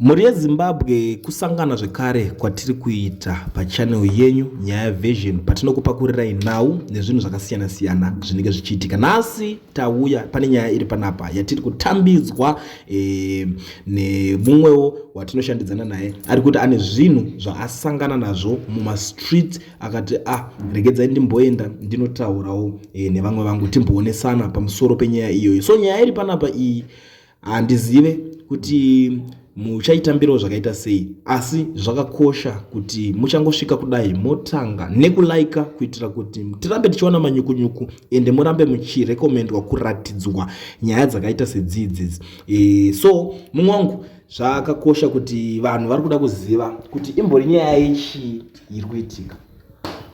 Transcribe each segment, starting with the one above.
Mhuri yeZimbabwe kusangana zvekare kwatiri kuita pachannel yenyu Nyaya Version patinokupakurirai nhau nezvinhu zvakasiyana siyana zvinenge zvichiitika. Nhasi tauya pane nyaya iri panapa yatiri kutambidzwa e, nemumwewo watinoshandidzana naye ari kuti ane zvinhu zvaasangana nazvo mumastreet akati ah, regedzai ndimboenda ndinotaurawo e, nevamwe vangu timboonesana pamusoro penyaya iyoyo. So nyaya iri panapa iyi handizive kuti muchaitambirawo zvakaita sei asi zvakakosha kuti muchangosvika kudai motanga nekulaika kuitira kuti tirambe tichiwana manyukunyuku ende murambe muchirekomendwa kuratidzwa nyaya dzakaita sedzidzi e, so mumwe wangu zvakakosha kuti vanhu vari kuda kuziva kuti imbori nyaya yechii iri kuitika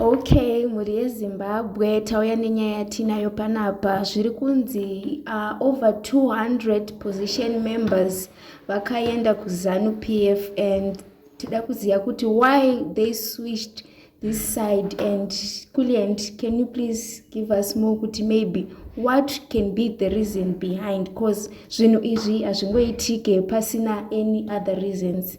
Okay, mhuri yeZimbabwe tauya nenyaya yatinayo panapa zviri kunzi uh, over 200 position members vakaenda kuZanu PF and tida kuziva kuti why they switched this side and Kulient, can you please give us more kuti maybe what can be the reason behind because zvinhu izvi hazvingoitike pasina any other reasons.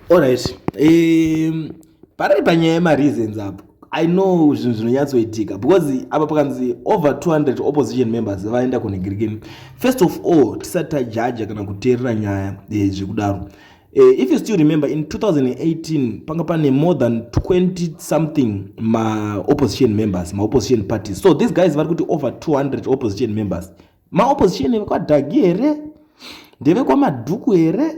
All right. Um, Pari panyaya yema reasons apo. I know zvinhu zvinonyatsoitika because apa pakanzi over 200 opposition members vaenda kune Greekin. First of all, tisati tajaja kana kuteerera nyaya eh, zvekudaro. Eh, Uh, if you still remember in 2018 panga pane more than 20 something ma opposition members ma opposition parties so these guys vari kuti over 200 opposition members maopposition ndevekwadhagi here ndevekwamadhuku here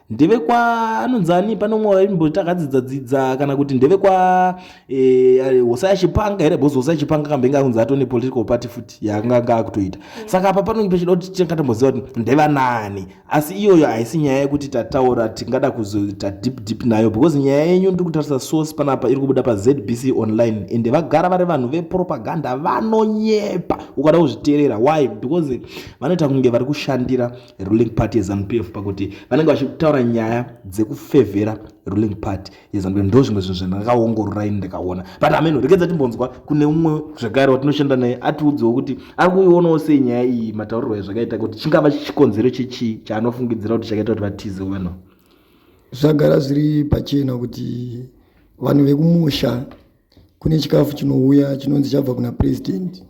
ndevekwa anonzi ani pane umwe waimboti akadzidza dzidza kana kuti ndevekwa eh, hosa yachipanga here bhozi hosa yachipanga kambe inge akunzi atone political party futi yaanga anga akutoita saka apa panonge pechida kuti tinga tomboziva kuti ndevanani asi iyoyo haisi nyaya yekuti tataura tingada kuzoita deep deep nayo because nyaya yenyu ndiri kutarisa source panapa iri kubuda pazbc online ende vagara vari vanhu vepropaganda vanonyepa ukada kuzviteerera why because vanoita kunge vari kushandira ruling party yezanupf pakuti vanenge vachitaura nyaya dzekufevhera ruling party yes and ndo zvimwe zvinhu zvandakaongorora ini ndikaona but ameno rekedza timbonzwa kune umwe zvekare watinoshanda naye atiudzewo kuti ari kuionawo sei nyaya iyi mataurirwo ezvakaita kuti chingava chikonzero chechii chaanofungidzira kuti chakaita kuti vatize wena zvagara zviri pachena kuti vanhu vekumusha kune chikafu chinouya chinonzi chabva kuna president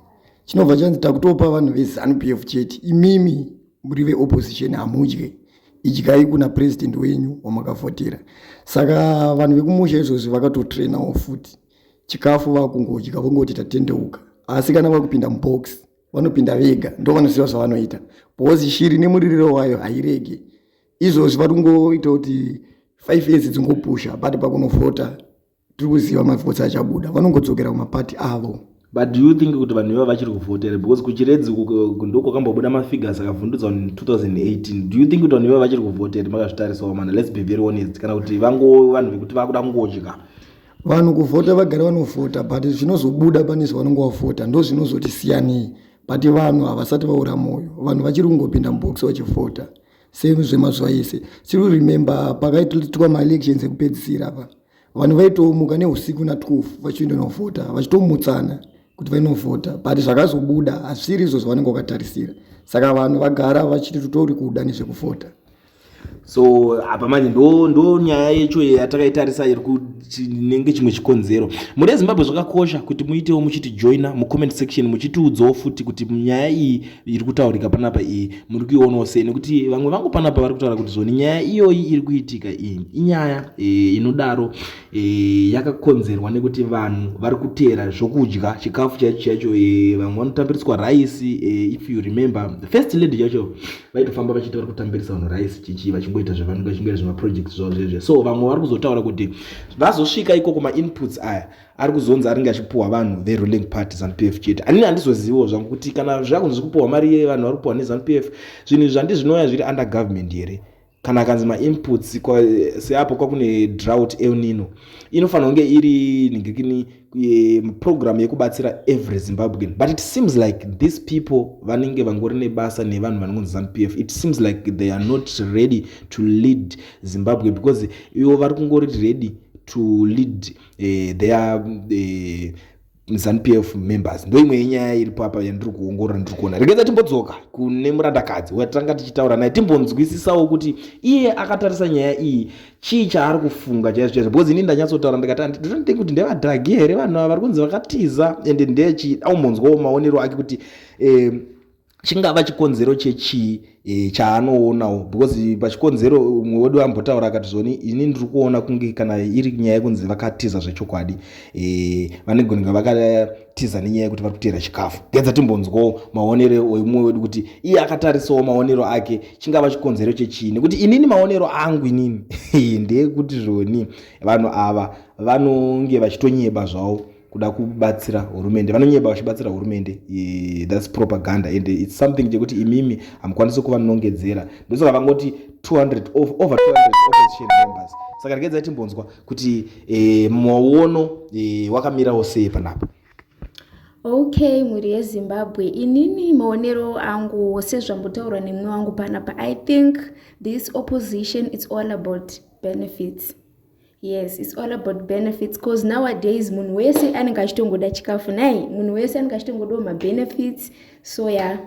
chinobva chanzi takutopa vanhu vezanu p f chete imimi muri veopposition hamudye idyai kuna president wenyu wamakavhotera saka vanhu vekumusha izvozvi vakatotrainawo futi chikafu vakungodya vongoti tatendeuka asi kana vakupinda mubox vanopinda vega ndo vanoziva zvavanoita bhozi shiri nemuririro wayo hairege izvozvi vari kungoita kuti five years dzingopusha but pakunovhota tiri kuziva mavhotsi achabuda vanongodzokera kumapati avo but do you think kuti vanhu iva vachiri kuvhotera because kuchiredzi ndokwakambobuda mafigures akavhundudzwa 2018 do you think kuti vanhu iva vachiri kuvhotera makazvitarisawo mana let's be very honest kana kuti vango vanhu vekuti vakuda kungodya vanhu kuvhota vagari vanovhota but zvinozobuda pane zvavanonge vavhota ndo zvinozoti siyanei but vanhu havasati vaura mwoyo vanhu vachiri kungopinda mubox vachivhota same zvemazuva ese tiri kuremember pakaitwa maelections ekupedzisira apa vanhu vaitomuka neusiku na 12 vachienda novhota vachitomutsana kuti vainovhota but zvakazobuda hazviri izvo zvavanenge vakatarisira saka vanhu vagara vachiti tutori kuda nezvekuvhota so apa manje ndo ndo nyaya yecho yatakaitarisa iri kutinenge chimwe chikonzero muri ezimbabwe zvakakosha kuti muitewo muchiti joina mucomment section muchitiudzawo futi kuti nyaya iyi iri kutaurika panapa iyi muri kuionawo sei nekuti vamwe vangu panapa vari kutaura kuti zvoni nyaya iyoyi iri kuitika iyi inyaya e, inodaro e, yakakonzerwa nekuti vanhu vari kuteera zvokudya chikafu chaicho chaicho e, vamwe vanotambiriswa raisi if you remember the first lady chacho vaitofamba vachiti vari kutambirisa vanhu raisi chichi vachingoita zvavanenge vachingoita zvemaproject zvavo zvezve so vamwe vari kuzotaura kuti vazosvika ikoko mainputs aya ari kuzonzi aringe achipuhwa vanhu veruling party zanu p f chete anini handizoziviwo zvangu kuti kana zvakunzi zvi kupuhwa mari yeye vanhu vari kupuhwa nezanu p f zvinhu izvi zvandi zvinouya zviri under government here kana akanzi mainputs seapo kwakune drought elnino inofanira kunge iri ningikini eh, program yekubatsira every zimbabwean but it seems like these people vanenge vangori nebasa nevanhu vanongonzi zanu p f it seems like they are not ready to lead zimbabwe because ivo vari kungori ready to lead Zimbabwe. eh, they are eh, zanupf members ndoimwe yenyaya iripo apa yandiri kuongorora ndiri kuona regedza timbodzoka kune murandakadzi watanga tichitaura naye timbonzwisisawo kuti iye akatarisa nyaya iyi chii chaari kufunga chaizvo chaizvo because ini ndanyatsotaura ndikati anditonote kuti ndevadragi here vanhu ava vari kunzi vakatiza ende ndechii aumbonzwawo maonero ake kuti eh, chingava chikonzero chechii e, chaanoonawo because pachikonzero umwe wedu ambotaura akati zvoni ini ndiri kuona kunge kana iri nyaya yekunzi vakatiza zvechokwadi e, vanigonga vakatiza nenyaya yekuti vari kuteera chikafu gedza timbonzwawo maonero oimwe wedu kuti iye akatarisawo maonero ake chingava chikonzero chechii nekuti inini maonero angu inini ndeyekuti zvoni vanhu ava vanonge vachitonyeba zvavo kuda kubatsira hurumende vanonyeba vachibatsira hurumende thats propaganda and its something chekuti imimi hamukwanisi kuva nongedzera ndosaka vangoti 200 over 200 opposition members saka regedza timbonzwa kuti eh, maono eh, wakamirawo sei panapa ok mhuri yezimbabwe inini maonero angu sezvambotaurwa nemumwe wangu panapa i think this opposition its all about benefits yes its all about benefits bcause nowadays munhu wese anenge achitongoda chikafu nai munhu wese anenge achitongodawo mabenefits so ya yeah.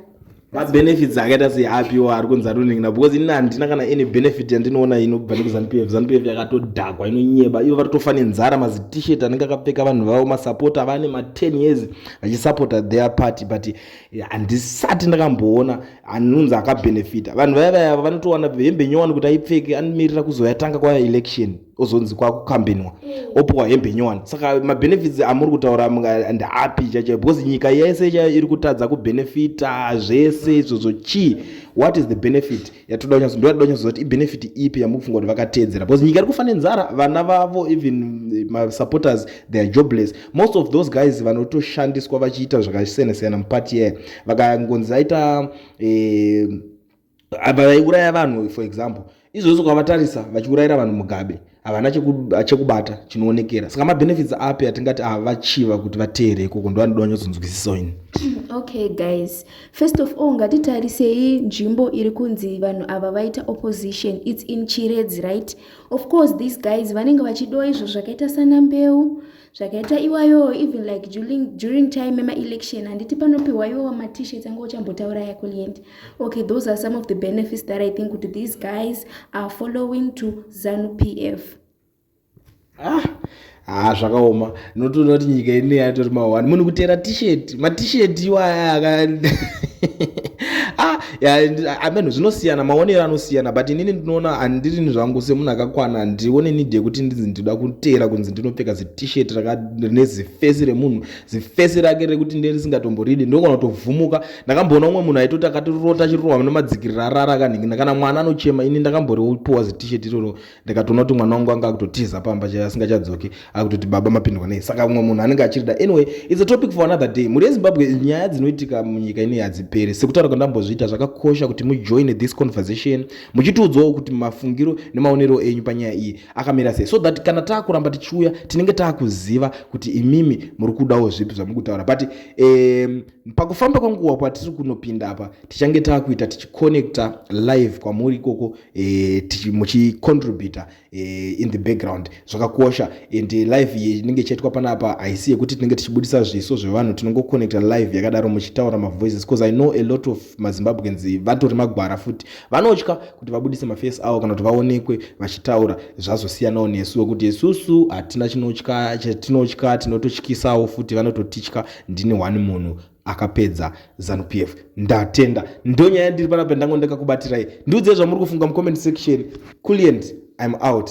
mabenefits akaita sei apiwo ari kunzi atoningina because ini handina kana any benefit yandinoona inobva nekuzanu pf zanu pf yakatodhakwa inonyeba ivo varitofa nenzara mazitishet anenge akapfeka vanhu vavo masapota vane ma10 years vachisapota their party but handisati ndakamboona anonzi akabenefita vanhu vaya vaya vanotowana hembe nyowani kuti aipfeke anomirira kuzoyatanga kwaya election ozonzi kwakukambenwa mm. opuwa hembe nyowani saka mabenefits amuri kutaura ndaapi chacha because nyika yese chayo iri kutadza kubenefita zvese izvozvo chii what is the benefit yatoda kunyaso ndoda toda kunyasoziva kuti ibenefit ipi yamuri kufunga kuti vakateedzera because nyika iri kufa nenzara vana vavo even eh, masupporters they are jobless most of those guys vanotoshandiswa vachiita zvakasiyana siyana mupati yaya vakangonzi aita eh, vaiuraya vanhu for example izvozvo kwavatarisa vachiurayira vanhu mugabe havana chekubata chinoonekera saka mabenefits api atingati avachiva kuti vateere ikoko ndo vanoda vanyatsodzwisisawo ini okay guys first of all ngatitarisei nzvimbo iri kunzi vanhu ava vaita opposition its in chiredzi right of course these guys vanenge vachidiwa izvo zvakaita sana mbeu zvakaita iwayo even like during, during time emaelection handiti panopiwa iwo wamatishet anga uchambotaura yako lient okay those are some of the benefits that i think kuti these guys are following to zanu p f ah haa zvakaoma notoona kuti nyika ine yatori mahwani munhu kutera tisheti matisheti iwaya aka ah, ameno zvinosiyana maonero anosiyana but inini ndinoona handirini zvangu semunhu akakwana handione nidi yekuti ndinzi ndinoda kuteera kunzi ndinopfeka zitisheti rine zifesi remunhu zifesi rake rekuti nde risingatomboridi ndinogona kutovhumuka ndakamboona umwe munhu aitoti akatirota chirohwa nemadzikirira arara kanhingi kana mwana anochema ini ndakamboripiwa zitisheti iroro ndikatoona kuti mwana wangu anga akutotiza pamba chaiye asingachadzoki akutoti baba mapindwa nei saka umwe munhu anenge achirida anyway its a topic for another day mhuri yezimbabwe nyaya dzinoitika munyika inei hadziperi sekutaura kwandambozviita zvakakosha kuti mujoine this conversation muchitiudzawo kuti mafungiro nemaonero enyu panyaya iyi akamira sei so that kana taakuramba tichiuya tinenge taakuziva kuti imimi muri kudawo zvipi zvamuri kutaura but um, pakufamba kwenguva kwatiri kunopinda apa tichange taakuita tichiconnecta live kwamuri ikoko e, muchicontributa e, in the background zvakakosha and eh, live iyi inenge ichaitwa panapa haisi yekuti tinenge tichibudisa zviso zvevanhu tinongoconnecta live yakadaro muchitaura mavoices because i know a lot of mazimbabweans vatori magwara futi vanotya kuti vabudise maface avo kana kuti vaonekwe vachitaura zvazosiyanawo nesu wekuti isusu hatina chinotya chatinotya tinototyisawo futi vanototitya ndini one munhu akapedza zanu p f ndatenda ndonyaya yandiri panapa ndango ndakakubatirai ndiudzei zvamuri kufunga mucomment section culient im out